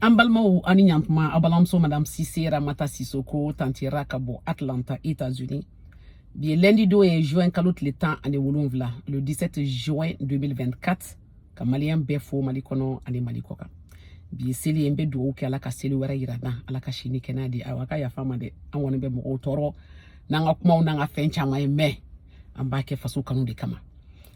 An balimaw a ni ɲantuma a balimamuso madame Sise Ramata Sisoko tanti Ra ka bɔ Atlanta États-Unis bi ye lundi don ye juin kalo tile tan ani wolonwula le 17 juin 2024 ka maliyɛn bɛɛ fo mali kɔnɔ ani mali kɔ kan bi ye seli ye n bɛ dugawu kɛ ala ka seli wɛrɛ yira an na ala ka si ni kɛnɛya di aw ka yafa an ma dɛ an kɔni bɛ mɔgɔw tɔɔrɔ n'an ka kumaw n'an ka fɛn caman ye mais an b'a kɛ faso kanu de kama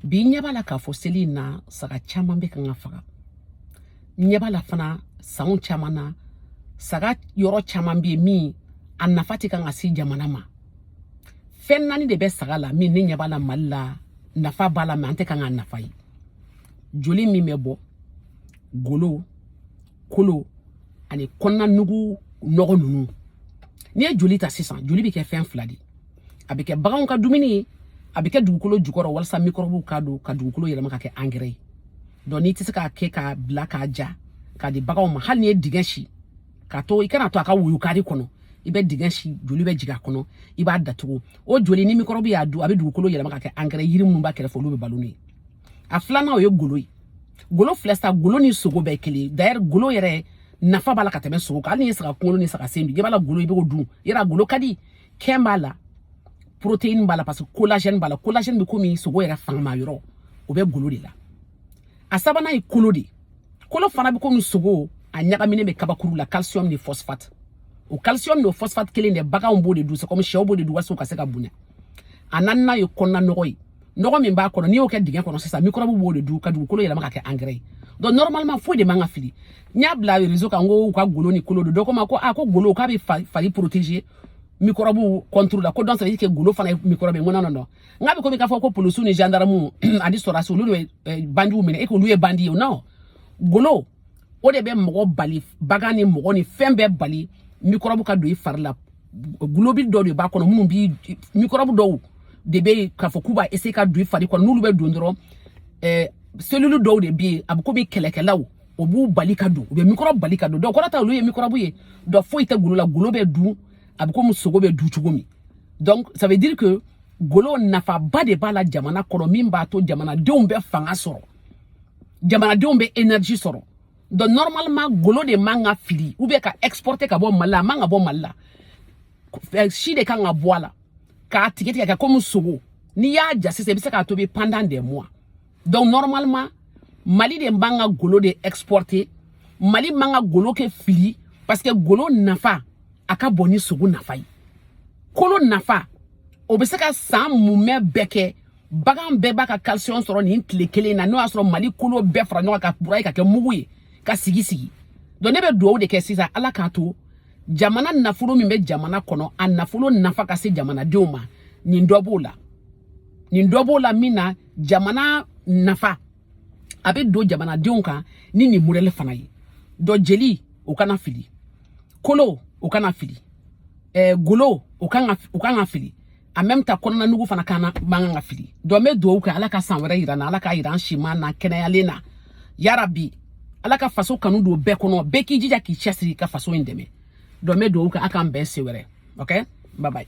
bi n ɲɛ b'a la k'a fɔ seli in na saga caman bɛ kan ka faga ɲɛ b'a la fana sanw caman na saga yɔrɔ caman bɛ yen min a nafa tɛ kan ka se jamana ma fɛn naani de bɛ saga la min ne ɲɛ b'a la mali la nafa b'a la mais an tɛ kan k'a nafa ye joli min bɛ bɔ golo kolo ani kɔnɔna nugu nɔgɔ ninnu n'i ye joli ta sisan joli bɛ kɛ fɛn fila de ye a bɛ kɛ baganw ka dumuni ye a bɛ kɛ dugukolo jukɔrɔ walasa mikɔrɔbuw k'a dun ka dugukolo yɛlɛma ka kɛ angɛrɛ ye donc n'i tɛ se k'a kɛ k'a bila k'a ja k'a di baganw ma hali n'i ye dingɛ sen k'a to i kan'a to a ka woyo carré kɔnɔ i bɛ dingɛ sen joli bɛ jigin a kɔnɔ i b'a datugu o joli ni mikɔrɔbu y'a dun a bɛ dugukolo yɛlɛma ka kɛ angɛrɛ ye yiri minnu b'a kɛrɛfɛ olu bɛ balo n'o ye a filanan o ye golo ye golo filɛ sa golo ni sogo bɛɛ kelen d'ailleurs golo yɛrɛ nafa b'a la ka tɛmɛ sogo kan hali n'i ye saga kunkolo ni saga sen dun i b'a la golo i b'o dun yɛrɛ a golo ka di kɛn b'a la protéine b'a la parce que collagène b'a la collagène bɛ komi sogo yɛrɛ fangama yɔrɔ o bɛ golo de la a sabanan ye kolo de kolo fana bɛ komi sogo a ɲagaminen bɛ kabakuru la calcium ni phosphate o calcium n'o phosphate kelen de baganw b'o de dun c'est comme shɛw b'o de dun walasa u ka se ka bonya a naaninan ye kɔnɔna nɔgɔ ye nɔgɔ min b'a kɔnɔ n'i y'o kɛ dingɛ kɔnɔ sisan mikɔrɔbu b'o de dun ka dugukolo yɛlɛma ka kɛ angɛrɛ ye donc normalement foyi de man ka fili n y'a bila réseau kan ko u ka golo ni kolo dun dɔ ko n ma ko a ko golo k'a bɛ fari protéger mikɔrɔbu contre la ko donc ça veut dire que golo fana ye mikɔrɔbu ye n ko non non non n k'a bɛ komi k'a fɔ ko polisiw ni gendarmew ani sɔrɔdasiw olu de bɛ bandiw minɛ e k'olu ye bandi ye o non golo o de bɛ mɔgɔ bali bagan ni mɔgɔ ni fɛn bɛɛ bali mikɔrɔbu ka don i fari la globule dɔw de b'a kɔnɔ minnu bi mikɔrɔbu dɔw de bɛ yen k'a fɔ k'u b'a essayer ka don i fari kɔnɔ n'olu bɛ don dɔrɔn ɛɛ cellule dɔw de bɛ yen a bɛ komi kɛlɛkɛlaw o b'u bali ka don u bɛ mikɔrɔbu bali ka don donc o kɔrɔ tɛ olu ye mikɔrɔbu ye donc foyi tɛ golo la golo bɛ dun a bɛ komi sogo bɛ dun cogo min donc ça veut dire que golo nafaba de b'a la jamana kɔnɔ min b'a to jamanadenw bɛ fanga sɔrɔ jamanadenw bɛ énergie sɔrɔ donc normalement golo de man ka fili ou bien ka exporter ka bɔ mali la a man ka bɔ mali la eh, si de kan ka bɔ a la k'a tigɛ tigɛ k'a kɛ komi sogo n'i y'a ja sisan i bɛ se k'a tobi pendant des mois donc normalement mali de man ka golo de exporter mali man ka golo kɛ fili parce que golo nafa a ka bon ni sogo nafa ye kolo nafa o bɛ se ka san mumɛ bɛɛ kɛ bagan bɛɛ b'a ka calcium sɔrɔ nin tile kelen na n'o y'a sɔrɔ mali kolo bɛɛ fara ɲɔgɔn kan k'a broyer k'a kɛ mugu ye ka sigi sigi donc ne bɛ dugawu de kɛ sisan ala k'a to jamana nafolo min bɛ jamana kɔnɔ a nafolo nafa ka se jamanadenw ma nin dɔ b'o la nin dɔ b'o la min na jamana nafa a bɛ don jamanadenw kan ni nin modɛli fana ye dɔ jeli o kana fili kolo o kana fili ɛɛ eh, golo o kan ka o kan ka fili a même ta kɔnɔna nugu fana kana man kan ka fili donc n bɛ dugawu kɛ ala ka san wɛrɛ yira an na ala k'a yira an siman na kɛnɛyalen na yarabi ala ka faso kanu don bɛɛ kɔnɔ bɛɛ k'i jija k'i cɛsiri ka faso in dɛmɛ donc n bɛ dugawu kɛ a k'an bɛn siɲɛ wɛrɛ ok bye bye